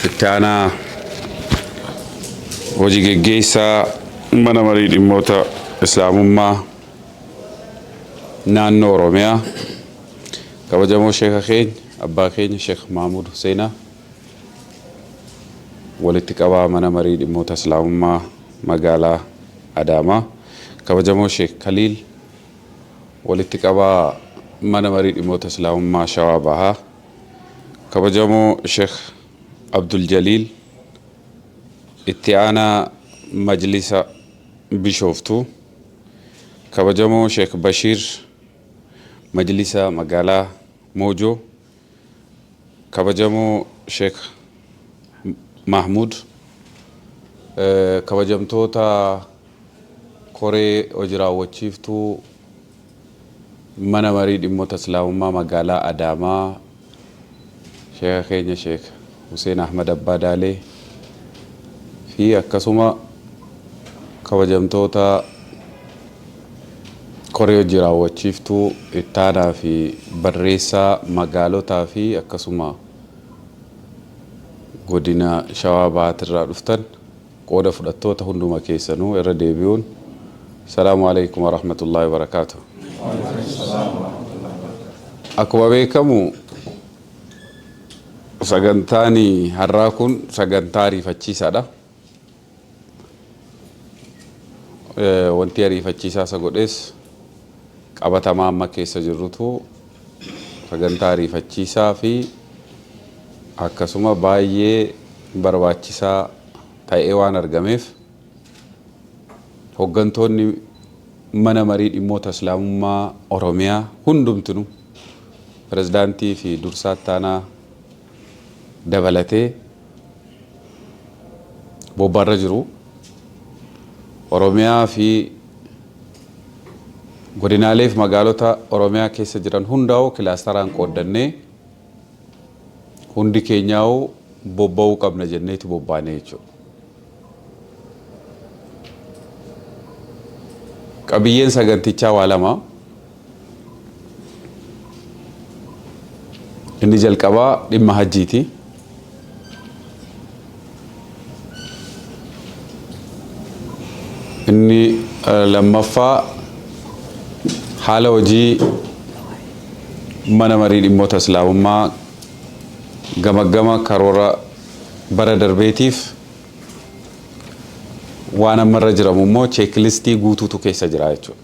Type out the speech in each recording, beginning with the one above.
Itti aanaa hojii geggeessaa mana marii dhimmoota islaamummaa naannoo Oromiyaa kabajamoo sheeka keenya abbaa keenya Sheek Mahmuud Huseenaa walitti qabaa mana marii dhimmoota islaamummaa Magaalaa Adaamaa Kabajamoo Sheek Kaliil Walitti Qabaa Mana Marii Dhimmoota Islaamummaa Shawaa Bahaa Kabajamoo Sheek Abdul Jaliil Itti Aanaa Majlisa Bishooftuu Kabajamoo Sheek Bashiir Majlisa Magaalaa Moojoo Kabajamoo Sheikh Mahmud, Kabajamtoota Koree Hoji Raawwachiiftuu Mana Marii Dhimmota Islaamummaa Magaalaa Adaamaa, Sheikha keenya Sheikh Huseen Ahmad Abbaa Daalee fi akkasuma kabajamtoota Koree Hojii Raawwachiiftuu Ittaanaa fi Barreessaa Magaalotaa fi akkasuma Godina Shawaa Bahaatirraa dhuftan qooda fudhattoota hunduma keessanuu irra deebi'uun Salaamu Aleykum Warahmatullaahi Wabarakaatuh. Akkuma beekamu Sagantaan har'aa kun sagantaa ariifachiisaadha. Wanti ariifachiisaa isa godhees qabatamaa amma keessa jirrutu sagantaa ariifachiisaa fi akkasuma baay'ee barbaachisaa ta'ee waan argameef. Hoggantoonni Mana Marii Dhimmoota Islaamummaa Oromiyaa hundumtinu Pirezidaantii fi Dursaa Ittaanaa dabalatee bobbaarra jiru. Oromiyaa fi Godinaalee fi Magaalota Oromiyaa keessa jiran hundaa'uu kilaastaraan qooddannee hundi keenyaa'uu bobba'uu qabna jenneeti bobbaanee jechuudha. Qabiyyeen sagantichaa waa lama. Inni jalqabaa dhimma hajjiiti. Inni lammaffaa haala hojii mana marii dhimmoota islaamummaa gamaggama karoora bara darbeetiif waan amma irra jiramu immoo cheeklistii guutuutu keessa jira jechuudha.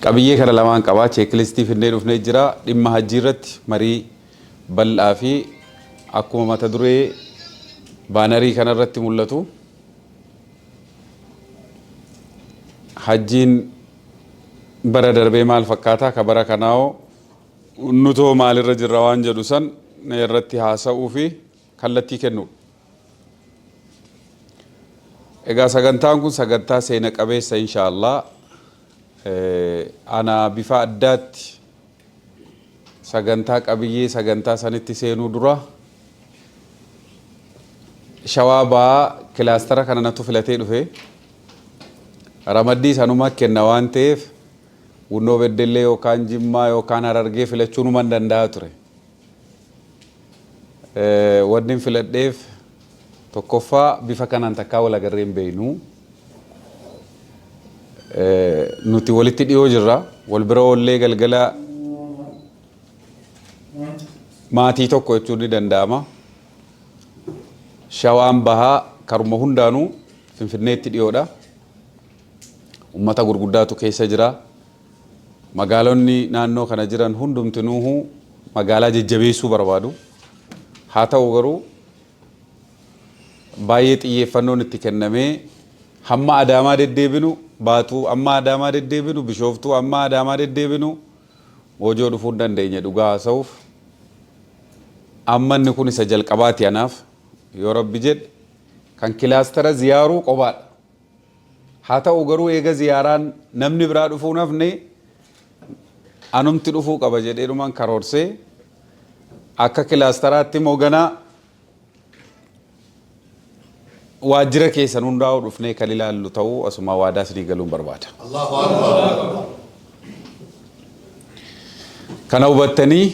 Qabiyyee kana lamaan qabaa cheeklistii finnee dhufnee jira dhimma hajjii irratti marii bal'aa fi akkuma mata duree baanarii kana irratti mul'atu hajjiin bara darbee maal fakkaataa ka bara kanaawoo Nutoo maalirra jirra waan jedhu san irratti haasa'uu fi kallattii kennuudha. Egaa sagantaan kun sagantaa seena qabeessa insha Allah. Ana bifa addaatti sagantaa qabiyyee sagantaa sanitti seenuu dura shawaa ba'aa kilaastara kana natu filatee dhufe. Ramaddii sanuma kenna waan ta'eef Bunnoo Beddellee yookaan Jimmaa yookaan Harargee filachuunuman danda'a ture. Wannin filadheef tokkoffaa bifa kanaan takkaa wal agarree hin beeknu. Nuti walitti dhiyoo jirra. Wal bira oollee galgala maatii tokko jechuun ni danda'ama. Shawaan bahaa karuma hundaanuu Finfinneetti dhiyoodha. Ummata gurguddaatu keessa jira. Magaalonni naannoo kana jiran hundumtinuuhu magaalaa jajjabeessuu barbaadu. Haa ta'u garuu baay'ee xiyyeeffannoon itti kennamee hamma Adaamaa deddeebinu Baatuu amma Adaamaa deddeebinu Bishooftuu amma Adaamaa deddeebinu Moojoo dhufuu hin dandeenye dhugaa haasa'uuf. Amma inni kun isa jalqabaati anaaf yoo rabbi jedhe. Kan kilaastara ziyaaruu qobaadha. Haa ta'u garuu eega ziyaaraan namni biraa dhufuu hin hafne anumti dhufuu qaba jedheetuman karoorsee akka kilaastaraatti immoo ganaa waajjira keessan hundaa'uu dhufnee kan ilaallu ta'uu asumaa waadaa isinii galuun barbaada. Kana hubattanii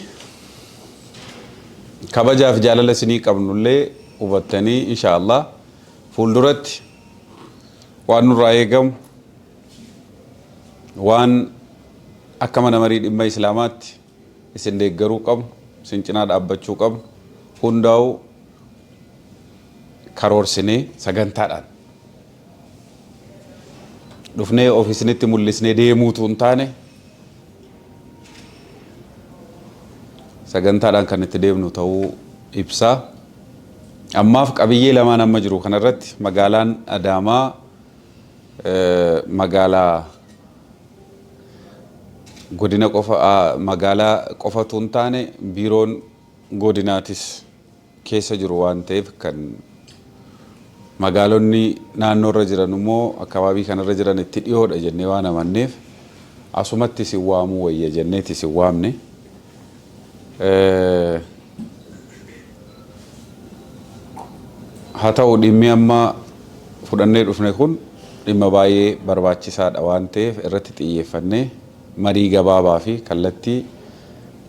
kabajaaf jaalala isinii qabnullee hubattanii inshaallah fuulduratti waan nurraa eegamu waan akka mana marii dhimma islaamaatti isin deeggaruu qabnu isin cinaa dhaabbachuu qabnu hundaa'uu karoorsinee sagantaadhaan dhufnee ofiisinitti mul'isnee deemuutu hin taane sagantaadhaan kan itti deemnu ta'uu ibsa. Ammaaf qabiyyee lamaan amma jiru kanarratti magaalaan Adaamaa magaalaa godina qofa magaalaa qofatu hin taane biiroon godinaatis keessa jiru waan ta'eef kan magaalonni naannoo irra jiran immoo akkabaabii kana irra jiran itti dhiyoodha jennee waan amanneef asumatti isin waamuu wayya jenneeti isin waamne. Haa ta'u dhimmi amma fudhannee dhufne kun dhimma baay'ee barbaachisaadha waan ta'eef irratti xiyyeeffannee marii gabaabaa fi kallattii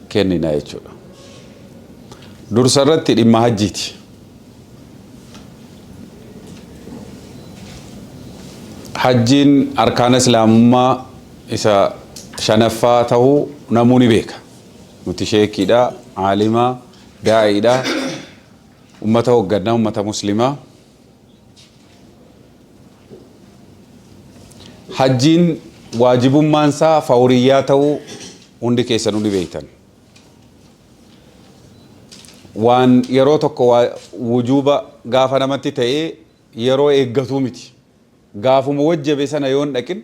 kennina jechuudha. Dursa irratti dhimma hajjiiti. Hajjiin arkaana islaamummaa isa shanaffaa ta'uu namuu ni beeka. Nuti sheekiidha, aalima, daa'iidha, ummata hoggannaa, ummata muslimaa. Hajjiin waajibummaan isaa fawriyyaa ta'uu hundi keessan hundi beektan. Waan yeroo tokko waa- wujuuba gaafa namatti ta'ee yeroo eeggatuu miti. Gaafuma wajjabe sana yoon dhaqin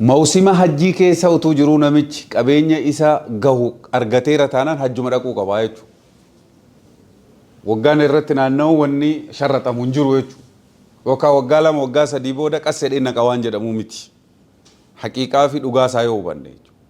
Mawsima hajjii keessa utuu jiruu namichi qabeenya isa gahu argateera taanaan hajjuma dhaquu qaba jechuudha. Waggaan irratti naanna'u wanni sharraxamu hin jiru jechuudha. Yookaan waggaa lama waggaa sadii booda qas jedhee naqa waan jedhamu miti. Haqiiqaa fi dhugaa isaa yoo hubanne jechuudha.